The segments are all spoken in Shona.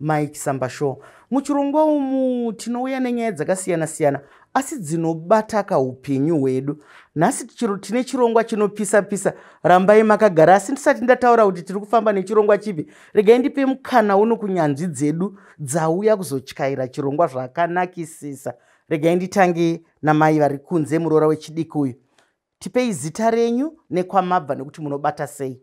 Mike Sambasho. Muchirongwa umu tinouya nenyaya dzakasiyana siyana asi dzinobata kaupenyu hwedu. Nhasi tine chirongwa chinopisa pisa. Rambai makagara asi ndisati ndataura kuti tiri kufamba nechirongwa chipi. Regai ndipe mukana uno kunyanzvi dzedu dzauya kuzotyaira chirongwa zvakanakisisa. Regai nditange namai vari kunze muroora wechidiki uyu. Tipei zita renyu nekwamabva nekuti munobata sei.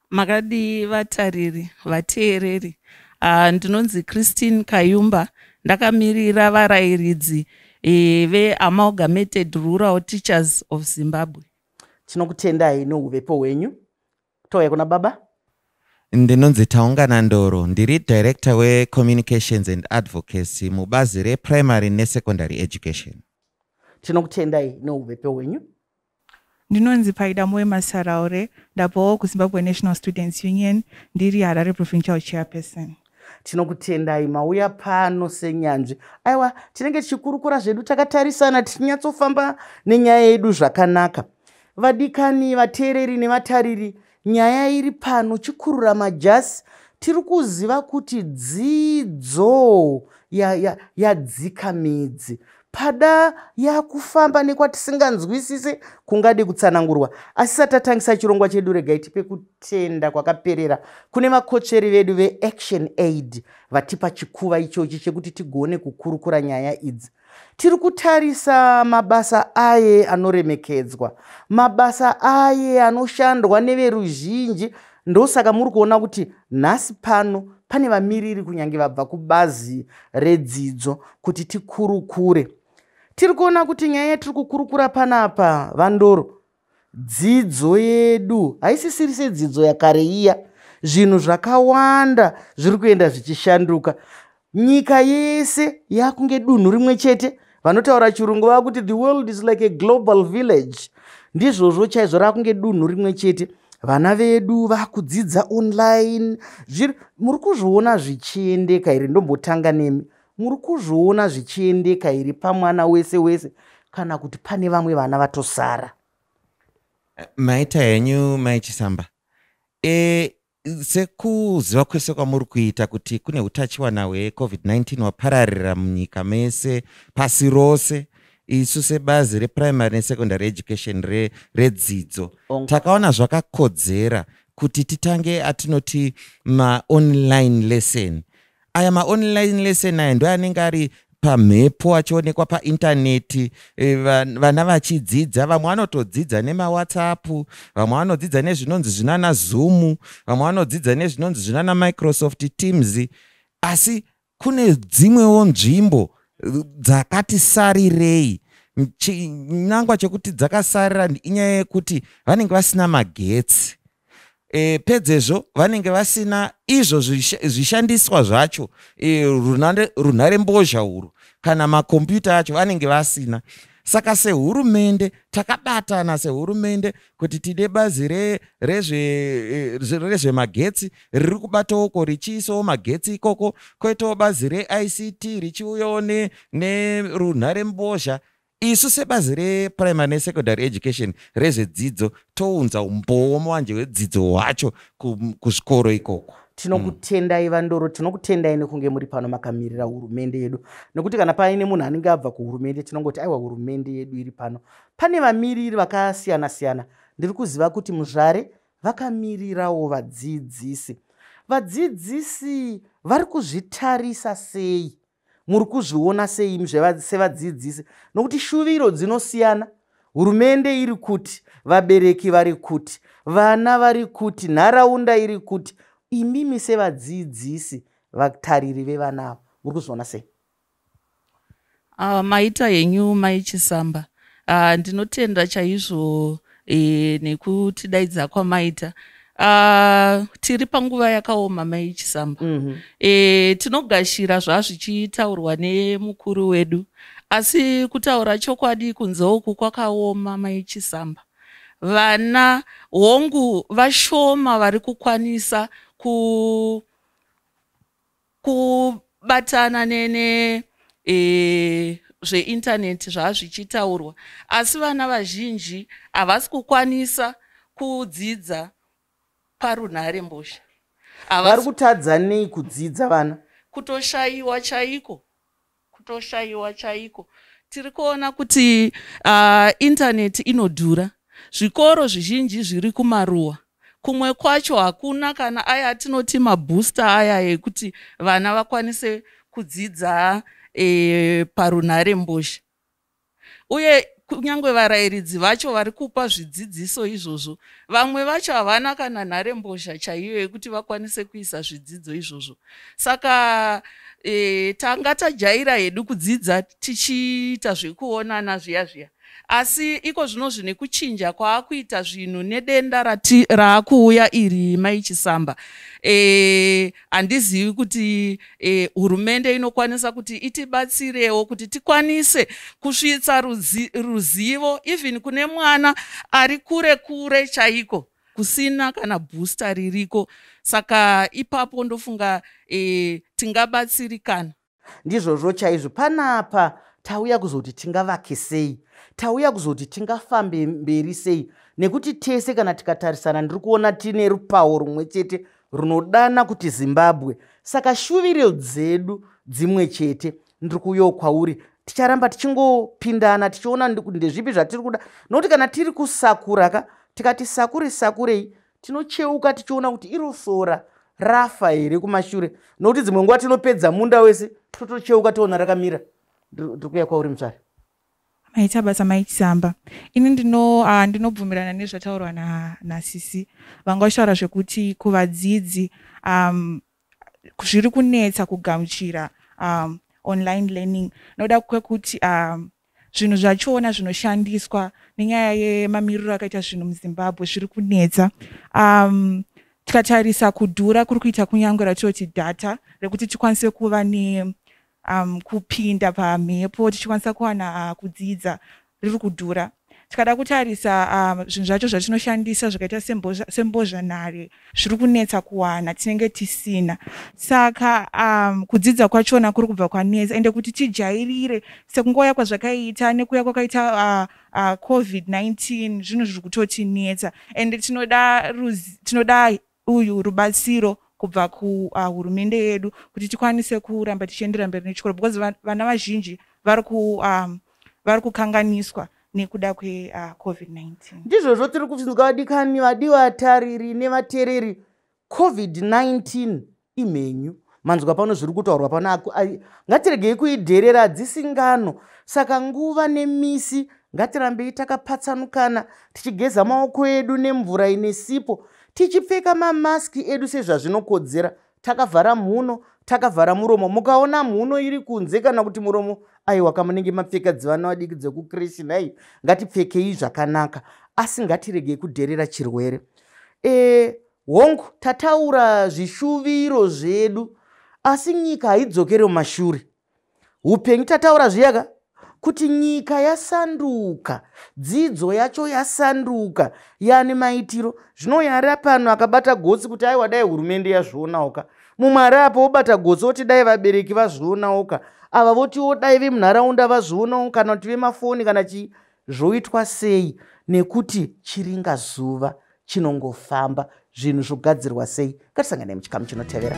makadii vatariri vateereri uh, ndinonzi christine kayumba ndakamirira varayiridzi e, veamalgamated rural teachers of zimbabwe tinokutendai nouvepo hwenyu touya kuna baba ndinonzi taungana ndoro ndiri director wecommunications and advocacy mubazi reprimary nesecondary education tinokutendai nouvepo hwenyu Ndinonzi Paida Moyo Masaraure, ndabvawo kuZimbabwe National Students Union, ndiri Harare Provincial Chairperson. Tinokutendai mauya pano senyanzvi. Aiwa, tinenge tichikurukura zvedu takatarisana tichinyatsofamba nenyaya yedu zvakanaka. Vadikani, vateereri nevatariri, Nyaya iri pano chikurura majasi tiri kuziva kuti dzidzo yadzika ya, ya midzi pada yakufamba nekwatisinganzwisise kungade kutsanangurwa asi satatangisa chirongwa chedu regai tipe kutenda kwakaperera kune vakotsveri vedu veaction aid vatipa chikuva ichochi chekuti tigone kukurukura nyaya idzi Tiri kutarisa mabasa aye anoremekedzwa, mabasa aye anoshandwa neveruzhinji. Ndosaka muri kuona kuti nhasi pano pane vamiriri kunyange vabva kubazi redzidzo kuti tikurukure. Tiri kuona kuti nyaya yatiri kukurukura panapa, VaNdoro, Dzidzo yedu haisisiri sedzidzo yakare iya. Zvinhu zvakawanda zviri kuenda zvichishanduka. Nyika yese yakunge dunhu rimwe chete. Vanotaura chirungu vakuti the world is like a global village. Ndizvozvo chaizvo rakunge dunhu rimwe chete. Vana vedu vakudzidza online. Zviri muri kuzviona zvichiendeka here ndombotanga nemi. Muri kuzviona zvichiendeka here pamwana wese wese kana kuti pane vamwe vana vatosara? Eh, maita henyu mai Chisamba. E, sekuziva kwese kwamuri kuita kuti kune utachiwana hweCovid-19 wapararira munyika mese pasi rose isu sebazi reprimary nesecondary education redzidzo re takaona zvakakodzera kuti titange atinoti maonline lesson aya maonline lesson aya ndo anenge ari pamhepo achionekwa paintaneti e, vana vachidzidza vamwe vanotodzidza nemawhatsapp vamwe vanodzidza nezvinonzi zvinana zoom vamwe vanodzidza nezvinonzi zvinana microsoft teams asi kune dzimwewo nzvimbo dzakati sarirei chinangwa chekuti dzakasarira inyaya yekuti vanenge vasina magetsi e, pedzezvo vanenge vasina izvo zvishandiswa zvacho e, runhare mbozha urwu kana makombiyuta acho vanenge vasina saka sehurumende takabatana sehurumende kuti tine bazi rezvemagetsi re, re riri kubatowoko richiisawo magetsi ikoko koitawo bazi reict richiuyawo nerunhare ne mbozha Isu sebazi reprimary nesecondary education rezvedzidzo tounza umbowo muwanje wedzidzo hwacho kuzvikoro ikoko tinokutendai mm. vandoro tinokutendai nekunge muri pano makamirira hurumende yedu nekuti kana paine munhu anenge abva kuhurumende tinongoti aiwa hurumende yedu iri pano pane vamiriri vakasiyana siyana ndiri kuziva kuti muzvare vakamirirawo vadzidzisi vadzidzisi vari kuzvitarisa sei muri kuzviona sei sevadzidzisi nokuti shuviro dzinosiyana hurumende iri kuti vabereki vari kuti vana vari kuti nharaunda iri kuti imimi sevadzidzisi vatariri vevana ava muri kuzviona sei uh, maita henyu maichisamba uh, ndinotenda chaizvo eh, nekutidaidza kwamaita Uh, tiri panguva yakaoma mai chisamba mm -hmm. e, tinogashira zvazvichitaurwa nemukuru wedu asi kutaura chokwadi kunze uku kwakaoma mai chisamba vana hongu vashoma vari kukwanisa ku kubatana nene e, zveintaneti zvava zvichitaurwa asi vana vazhinji havasi kukwanisa kudzidza parunhare mbozha vari kutadza nei kudzidza vana kutoshayiwa chaiko kutoshaiwa chaiko tiri kuona kuti uh, intaneti inodhura zvikoro zvizhinji zviri kumaruwa kumwe kwacho hakuna kana aya atinoti mabooster aya ekuti vana vakwanise kudzidza e, parunhare mbozha uye kunyange varairidzi vacho vari kupa zvidzidziso izvozvo vamwe vacho havana kana nharembozha chaiyo yekuti vakwanise kuisa zvidzidzo izvozvo saka e, tanga tajaira hedu kudzidza tichiita zvekuonana zviya zviya asi iko zvino zvine kuchinja kwaakuita zvinhu nedenda raakuuya iri mai chisamba e, handizivi kuti eh, hurumende eh, inokwanisa kuti itibatsirewo kuti tikwanise kusvitsa ruzi, ruzivo even kune mwana ari kure kure chaiko kusina kana booster ririko saka ipapo ndofunga eh, tingabatsirikana ndizvozvo chaizvo panapa tauya kuzoti tingavake sei tauya kuzoti tingafambe mberi sei nekuti tese kana tikatarisana ndiri kuona tine rupawo rumwe chete runodana kuti zimbabwe saka shuviro dzedu dzimwe chete ndiri kuyo kwauri ticharamba tichingopindana tichiona ndezvipi zvatiri kuda nokuti kana tiri kusakura ka tikati sakure sakurei tinocheuka tichiona kuti iro sora rafa here kumashure nokuti dzimwe nguva tinopedza munda wese totocheuka toona rakamira ndiri kuya kwauri mutsvari maita basa maichisamba ini ndino ah, ndinobvumirana uh, nezvataurwa nasisi na vanga vachitaura zvekuti kuvadzidzi um, zviri kunetsa kugamuchira um, online learning noda kwekuti um, zvinhu zvachona zvinoshandiswa nenyaya yemamiriro akaita zvinhu muzimbabwe zviri kunetsa um, tikatarisa kudhura kuri kuita kunyange ratinoti data rekuti tikwanise kuva ne um, kupinda pamhepo tichikwanisa kuwana uh, kudzidza riri kudhura tikada kutarisa um, zvinhu zvacho zvatinoshandisa zvakaita sembozhanhare zviri kunetsa kuwana tinenge tisina saka um, kudzidza kwachona kuri kubva kwanetsa ende kuti tijairire sekungouya kwazvakaita nekuuya kwakaita uh, uh, covid-19 zvinhu zviri kutotinetsa ende tinoda tinoda uyu rubatsiro kubva kuhurumende uh, yedu kuti tikwanise kuramba tichiendera mberi nechikoro because vana vazhinji vari ku um, vari kukanganiswa nekuda kwecovid-19 ah, uh, ndizvozvo tiri kubvunzwa vadikani vadiwa vatariri nevatereri covid-19 imhenyu manzwa pano zviri kutaurwa pano ngatiregei kuidherera hadzisi ngano saka nguva nemisi ngatirambei takapatsanukana tichigeza maoko edu nemvura ine sipo tichipfeka mamaski edu sezvazvinokodzera takavhara mhuno takavhara muromo mukaona mhuno iri kunze kana kuti muromo aiwa kamunenge mapfeka dzivana vadiki dzekukrishi nhai ngatipfekei zvakanaka asi ngatiregei kudherera chirwere e, hongu tataura zvishuviro zvedu asi nyika haidzokere mumashure upenyu tataura zviyaka kuti nyika yasanduka dzidzo yacho yasanduka yani maitiro zvino yari apano akabata gotsi kuti aiwa dai hurumende yazvionawo ka mumwe ari apo wobata gotsi woti dai vabereki vazvionawo ka ava votiwo dai vemunharaunda vazvionawo kana kuti vemafoni kana chii Zvoitwa sei nekuti chiringa zuva chinongofamba zvinhu zvogadzirwa sei ngatisanganei muchikamu chinotevera